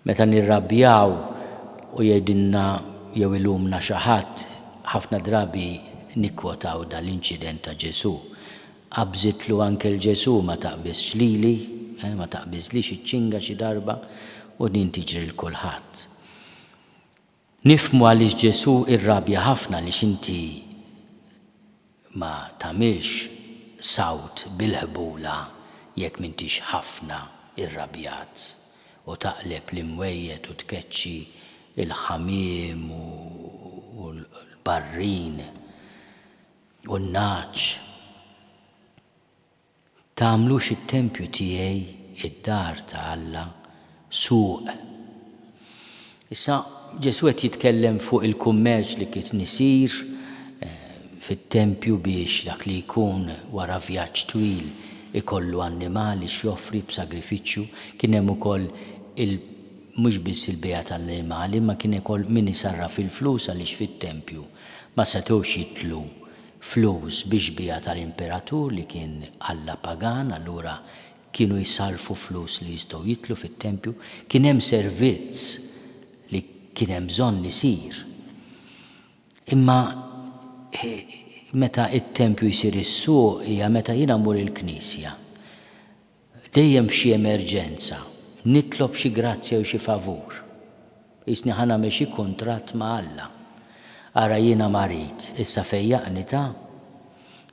Meta nirrabjaw u jgħidilna jew ilumna xi ħadd, ħafna drabi nikkwotaw dan l-inċident ta' Ġesù, Qabżitlu anke 'l Ġesù, ma taqbiżx lili, eh, ma taqbiżlix iċ-ċinga xi darba? U din tiġri 'l kulħadd. Nifhmu għaliex Ġesù irrabja ħafna għaliex inti ma tagħmilx sawt bil-ħbula jekk m'intix ħafna irrabjat u taqleb l-imwejjed u tkeċċi l-ħamiem u l-barrin u n-nagħaġ. Tagħmlux it-tempju tiegħi, id-dar ta' Alla, suq. Issa Ġesù qed jitkellem fuq il-kummerċ li kien isir fit-tempju biex dak li jkun wara vjaġġ twil ikollu annimali x'joffri b'sagrifiċċju. Kien hemm ukoll il mhux biss il-bejgħ tal-annimali imma kien ukoll min isarraf il-flus għaliex fit-tempju ma setgħux jidħlu flus biex biegħet għal imperatur li kien alla pagan, allura kienu jsarrfu flus li jistgħu jidħlu fit-tempju. Kien hemm servizz li kien hemm bżonn isir. Imma meta t-tempju jsir is-suq hija meta jiena mmur il-knisja. Dejjem f'xi emerġenza, nitlob xi grazzja jew xi favur. Qisni ħa nagħmel xi kuntratt ma' Alla. Ara jiena marid, issa fejjaqni ta?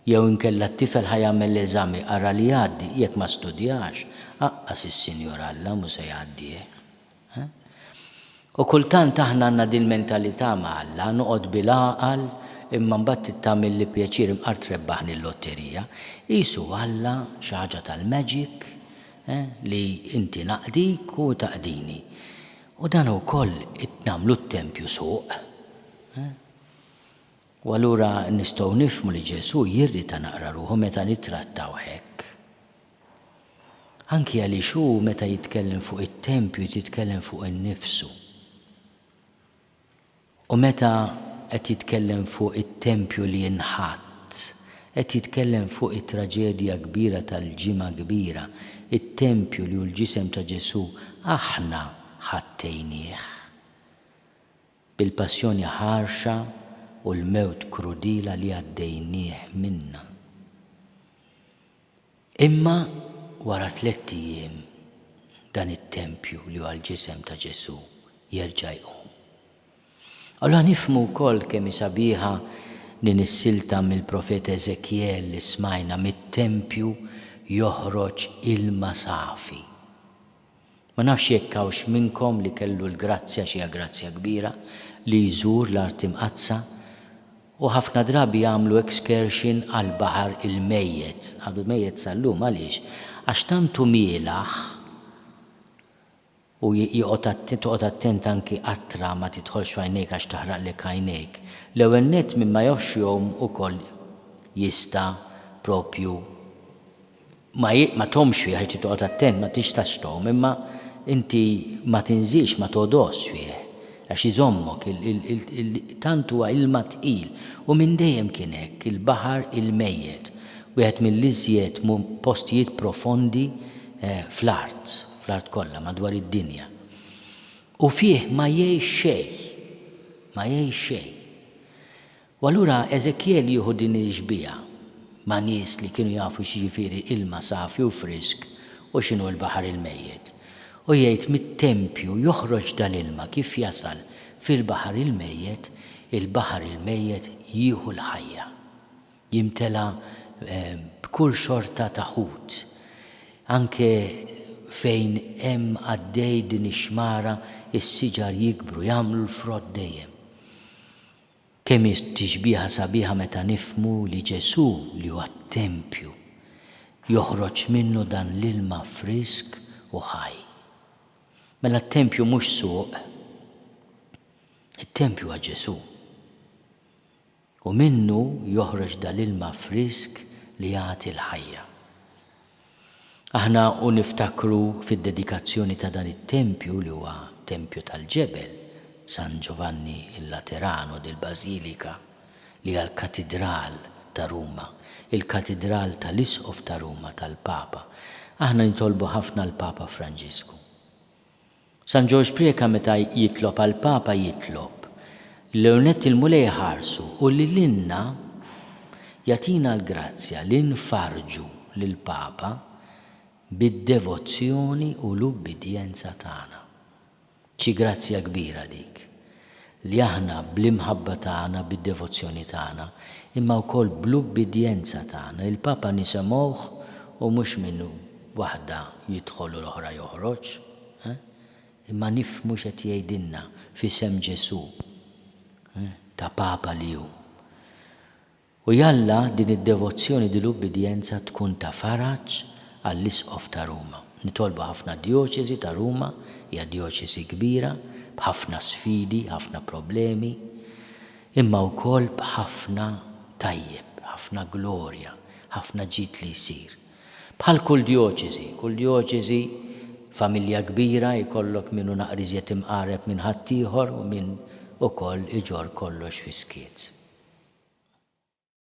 Jew inkella t-tifel ħa jagħmel l-eżami, ara li jgħaddi, jekk ma studjax, aqqas is-Sinjur Alla mhu se jgħaddih. U kultant aħna għandna din il-mentalità ma' Alla, noqgħod bil-għaqal imma mbagħad tagħmilli pjaċir imqar trebbahni l-lotterija. Qisu Alla xi ħaġa tal-magic li inti naqdik u taqdini. U dan ukoll nagħmlu t-tempju suq. U allura nistgħu nifhmu li Ġesù jirrita naqra ruħu meta nittrattawh hekk. Anki għaliex hu meta jitkellem fuq it-tempju qed jitkellem fuq innifsu. U meta qed jitkellem fuq it-tempju li jinħatt, qed jitkellem fuq it-traġedja kbira tal-Ġimgħa Kbira, it-tempju li hu l-ġisem ta' Ġesù aħna ħattejnieh. Bil-passjoni ħarxa u l-mewt krudila li għaddejnieh minnha. Imma wara tlett ijiem dan it-tempju li huwa l-ġisem ta' Ġesù jerġa' jqum. Allura nifhmu wkoll kemm hi sabiħa din is-silta mill-profeta Eżekjel li smajna, mit-tempju joħroġ ilma safi. Ma nafx jekk hawnx minnkom li kellu l-grazzja, x'hija grazzja kbira, li jżur l-Art Imqaddsa u ħafna drabi jagħmlu excursion għall-baħar il-mejjet, għadu mejjet sal-lum għaliex? Għax tant hu mielaħ u joqgħod attent, toqgħod attent anki qatra ma tidħolx f'għajnejk għax taħraqlek għajnejk. L-ewwel nett min ma jafx jgħum ukoll jista' propju ma hi ma tgħommx fih għax trid toqgħod attent ma tixtax tgħomm imma inti ma tinżilx ma togħdosx fih għax iżommok il tant huwa ilma tqil u minn dejjem kien hekk il-baħar il-mejjet wieħed mill-iżjed postijiet profondi fl-art fl-art kollha madwar id-dinja u fih ma jgħix xejn ma jgħix xejn U allura Eżekjel jieħu din il-xbieha ma' nies li kienu jafu x'jiġifieri ilma safi u frisk u x'inhu l-baħar il-mejjet, u jgħid mit-tempju joħroġ dal-ilma kif jasal fil-baħar il-mejjet, il-baħar il-mejjet jieħu l-ħajja. Jimtela b'kull xorta ta' ħut. Anke fejn hemm għaddej din ix-xmara, is-siġar jikbru, jagħmlu l-frott dejjem. Kemm hi tixbiha sabiħa meta nifhmu li Ġesù, li huwa t-tempju, joħroġ minnu dan l-ilma frisk u ħaj. Mela t-tempju mhux suq. It-tempju huwa Ġesù. U minnu joħroġ dal-ilma frisk li jagħti l-ħajja. Aħna u niftakru fid-dedikazzjoni ta' dan it-tempju li huwa tempju tal-ġebel, San Giovanni il Laterano del Basilica, li hija l-katidral ta' Ruma, il-katidral tal-Isqof ta' Ruma tal-Papa. Aħna nitolbu ħafna l-Papa Franġisku. San Ġorġ Preca meta jitlob għall-Papa jitlob li l-ewwel nett il-Mulej iħarsu u li lilna jagħtina l-grazzja li nfarrġu lill-Papa bid-devozzjoni u l-ubbidjenza tagħna. Xi grazzja kbira dik! li aħna bl-imħabba tagħna, bid-devozzjoni tagħna, imma wkoll bl-ubbidjenza tagħna, il-Papa nisemgħuh u mhux minn waħda jidħol u l-oħra joħroġ, eh, imma nifhmu x'qed jgħidilna f'isem Ġesù, eh, ta' Papa li hu. U jalla din id-devozzjoni di l-ubbidjenza tkun ta' faraġ għall-Isqof ta' Ruma. Nitolbu ħafna Djoċesi ta' Ruma hija Djoċesi kbira b'ħafna sfidi, ħafna problemi, imma wkoll b'ħafna tajjeb, ħafna glorja, ħafna ġid li jsir. Bħal kull djoċesi, kull djoċesi familja kbira jkollok min hu naqra iżjed imqareb minn ħaddieħor u min ukoll iġorr kollox fis-skiet.